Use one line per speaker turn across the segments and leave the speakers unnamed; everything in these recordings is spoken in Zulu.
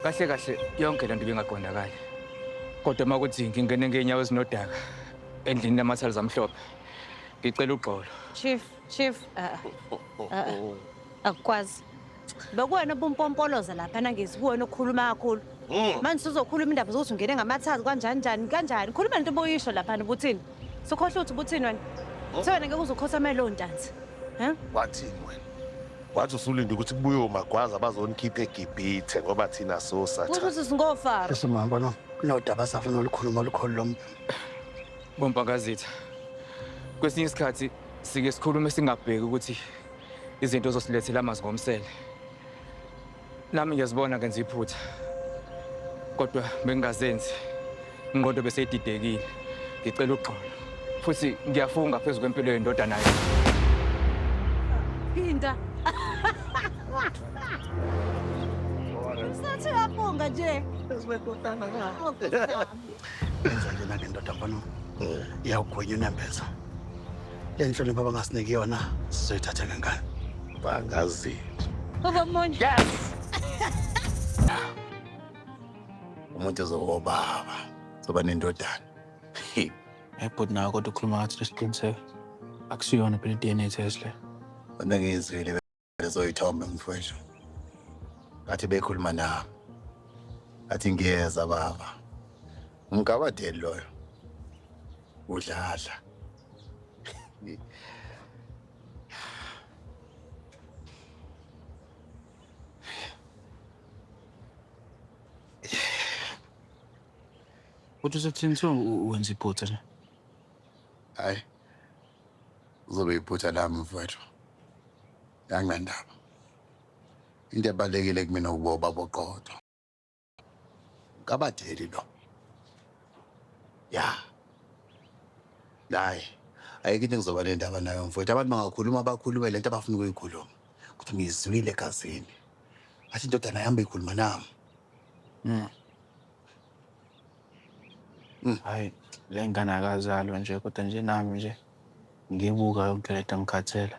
Kahle kahle yonke lento bingaqondakali. Kodwa uma kuthi ngingene ngeenyawo ezinodaka endlini lamathali zamhlophe. Ngicela ugxolo. Chief, chief, uh,
uh, akukwazi. Bekuwena obumpompoloza lapha nangezi kuwena okhuluma kakhulu. Mm. Manje uzokhuluma indaba zokuthi ungene ngamathazi kanjani njani kanjani. Khuluma into obuyisho lapha ubuthini? Sukhohle uthi buthini wena? Oh. Sewena ngeke uzukhosamela lo ntanzi. He? Wathini
wena? Wathi usulinde ukuthi kubuye omagwaza bazonikhipha eGibhithe ngoba thina sosa. Kusho ukuthi singofa.
Esimamba no.
Nodaba safuna olukhuluma olukhulu lomuntu.
Bompakazitha. Kwesinye isikhathi sike sikhulume singabheki ukuthi izinto zosilethela amazi ngomsele. Nami ngiyazibona ngenza iphutha kodwa bengingazenzi ingqondo beseyididekile ngicela uxolo futhi ngiyafunga phezu kwempilo yendodana yethu
phinda sathi uyafunga nje phezu kwendodana
yakho enza njena ngendoda mfana iyawugwenya unembeza Le nhlonipho abangasiniki yona sizoyithatha ngengane. Bangazi.
Baba
Mondi. Yes.
Umuntu ezokuba baba. Soba nendodana.
Hey bhuti nawe kodwa ukhuluma ngathi lesiqiniseko. Akusiyona phela i-DNA test le. Wena ngiyizwile
Ezoyithombe mfwethu. Ngathi bekhuluma nami. Athi ngiyeza baba. Umgabadeli loyo. Udlala.
Kodwa usebuthini kuthiwa wenza iphutha nje?
Hayi. Kuzobe iphutha lami mfowethu. Anginandaba. Into ebalulekile kumina ukuba ubaba oqotho. Kabatheli lo. Ya. Hayi. Ayikho into engizoba nendaba nayo mfowethu. Abantu bangakhuluma bakhulume lento abafuna ukuyikhuluma. Kodwa ngiyizwile egazini. Athi indodana yami beyikhuluma nami. Mm.
Mm. Hayi, le ngane akazalwa nje kodwa nje nami nje ngibuka yonke lento ngikhathele.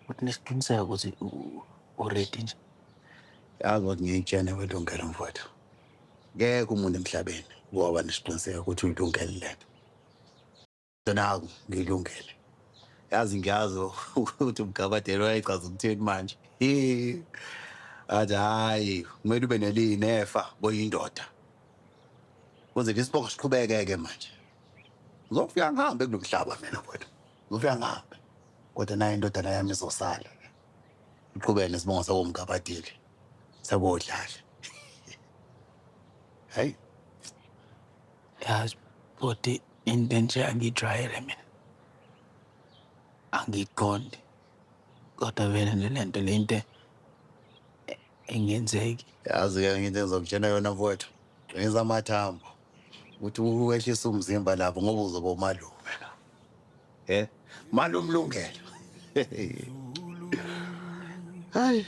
Uthi nesiqiniseko ukuthi u- uready nje. Yazi
ukuthi ngiyitshene welungelo mfowethu. Ngeke umuntu emhlabeni woba nesiqiniseko ukuthi uyilungele lento. Naku ngilungele. Yazi ngiyazi ukuthi umgabadeli wayechaza ukuthini manje. Athi hayi, kumele ube neliyi nefa boyindoda. Kuze ke isibongo siqhubeke ke manje. Ngizofika ngihambe kulomhlaba mina mfowethu. Ngizofika ngihambe. Kodwa naye indodana yami izosala. Iqhubeke nesibongo sakomgabadeli. Sakodlala. Hayi.
Yazi bhuti Into enje angiyijwayele mina. Angiyiqondi. Kodwa vele nje le nto le into e- engenzeki. Yazi-ke nginto
engizokutshela yona mfowethu. Qinisa amathambo ukuthi uwehlise umzimba lapho ngoba uzoba umalume la. Eh, malume Lungelo. Hayi.